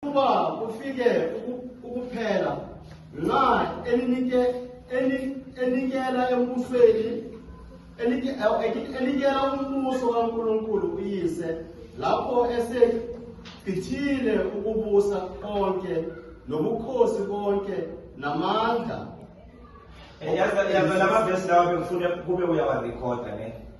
Kuba kufike ukuphela nxa eninike enikela embusweni enikela umbuso kaNkulunkulu uyise lapho esechithile ukubusa konke nobukhosi konke namandla yaza lama vesi lawa bengifuna kube uyawarekhoda ne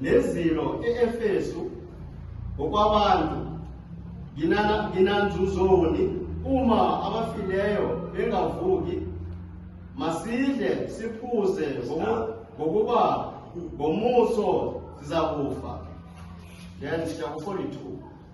Nezilo e-Efesu ngokwabantu nginanzuzoni uma abafileyo bengavuki masidle siphuze ngokuba ngomuso sizakufa then chapter 42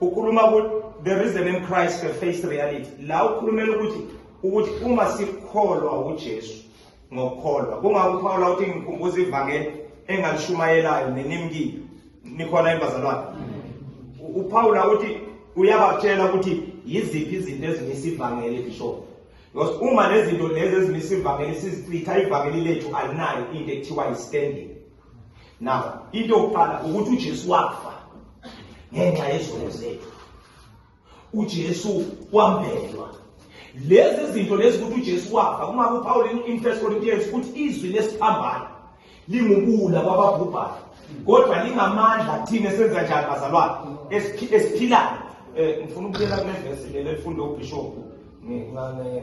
ukhuluma ukuthi there is a name Christ to face reality la ukhulumela ukuthi ukuthi uma sikholwa uJesu ngokukholwa kungakho uPawula uthi ngikhumbuza ivangeli engalishumayelayo nenimkile nikhona embazalwane uPawula uthi uyabatshela ukuthi yiziphi izinto ezimisa ivangeli bishop because uma lezinto lezi ezimisa ivangeli sizichitha ivangeli lethu alinayo into ekuthiwa yi-standing now into yokuqala ukuthi uJesu wafa ngenxa yezono zethu uJesu wambelwa lezi zinto lezi ukuthi uJesu wafa uma kuPaul in 1 Corinthians ukuthi izwi lesiphambano lingubula kwababhubhayo kodwa lingamandla thina senza njani bazalwane esiphilayo um ngifuna ukubuyela kule vesi leli elifunda ubhishobhu ngingane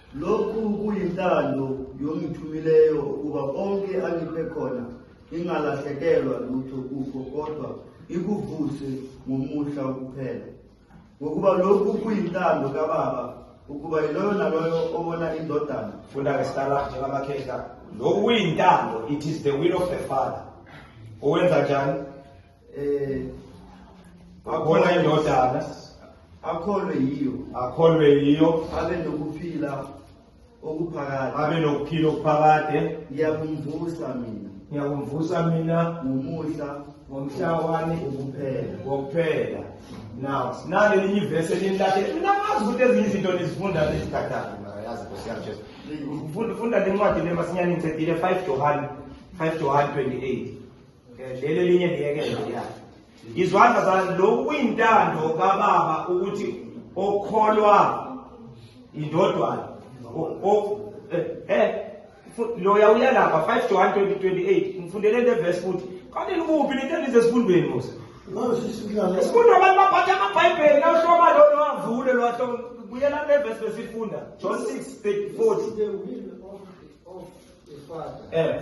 Lokhu kuyintando yongithumileyo ukuba konke angiphe khona ngingalahlekelwa lutho kukho kodwa ikuvuse ngomuhla kuphela ngokuba lokhu kuyintando kababa ukuba yiloyo naloyo obona indodana funda ke sitala njengamakhehla lokhu kuyintando it is the will of the father owenza njani eh akholwe indodana akholwe yiyo akholwe yiyo abe nokuphila okuphakade abe nokuphila okuphakade ngiyakumvusa mina ngiyakumvusa mina ngomusa ngomhlawani ukuphela wokuphela now nalelinye ivesi elinilahlela mina ngazi ukuthi ezinye izinto nizifunda nezikhathana yazi nkosi yami jesu funda le ncwadi le masinyane ngicedile 5 johane 5 johane 28 lelo linye ngiyekela ya izwandla zala lokhu kuyintando kababa ukuthi okholwa indodwana eh, eh loya uyalapha 5 to 1 2028 ngifundele le verse futhi kanti likuphi lento elize sifundweni musa Sifunda abantu baphatha amabhayibheli nawuhloma lona wavule lwahloma buyela le verse besifunda John 6:40 eh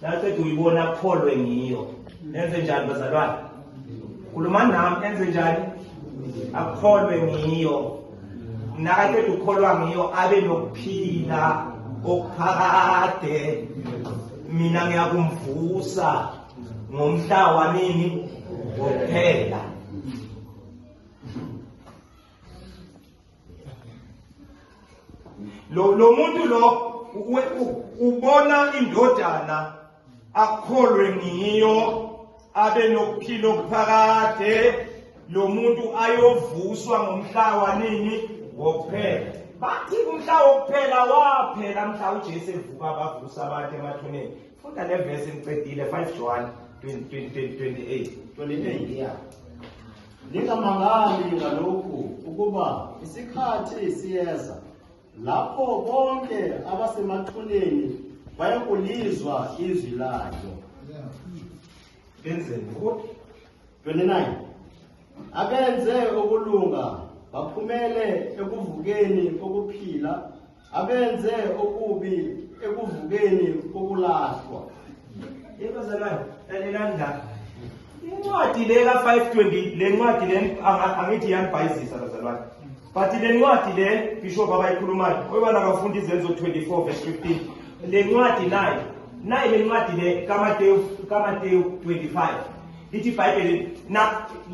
naceda uyibona akholwe ngiyo nenze njani bazalwane khulumani nami enze njani akholwe ngiyo nakaqeda ukukholwa ngiyo abe nokuphila okuphakade mina ngiyakumvusa ngomhla wanini wokuphela lo lo muntu lo ubona indodana akholwe ngiyo abe nokuphila okuphakade lo muntu ayovuswa ngomhla wanini wokuphela bathi umhla wokuphela waphela mhla ujesu evuka bavusa abantu emathuneni funda le vesi ngicedile 5 john 20, 20, 28 28 yeah Ningamangali ngalokhu ukuba isikhathi siyeza lapho bonke abasemathuneni bayokulizwa izwi layo. Benzeni ukuthi 29 abenze ukulunga baphumele ekuvukeni kokuphila abenze okubi ekuvukeni kokulahlwa inkozanayo lalelani la incwadi le ka-520 le ncwadi le angithi yanibhayizisa bazalwane but le ncwadi le bishop abayikhulumayo oyibana kafundi izenzo 24 verse 15 le ncwadi nayo nayi le ncwadi le kamatewu kamatewu 25 lithi ibhayibheli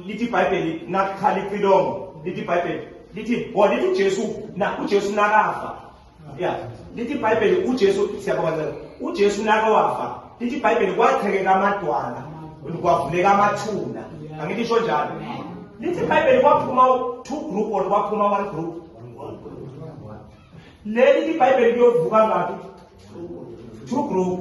lithi ibhayibheli nakukhala icilongo lithi ibhayibheli lithi or lithi uJesu na uJesu nakafa ya lithi iBhayibheli uJesu siyabonga ncela uJesu nakawafa lithi iBhayibheli kwathekeka amadwala kwavuleka amathuna angithi isho njalo lithi iBhayibheli kwaphuma two group or kwaphuma one group leli iBhayibheli kuyovuka ngathi two group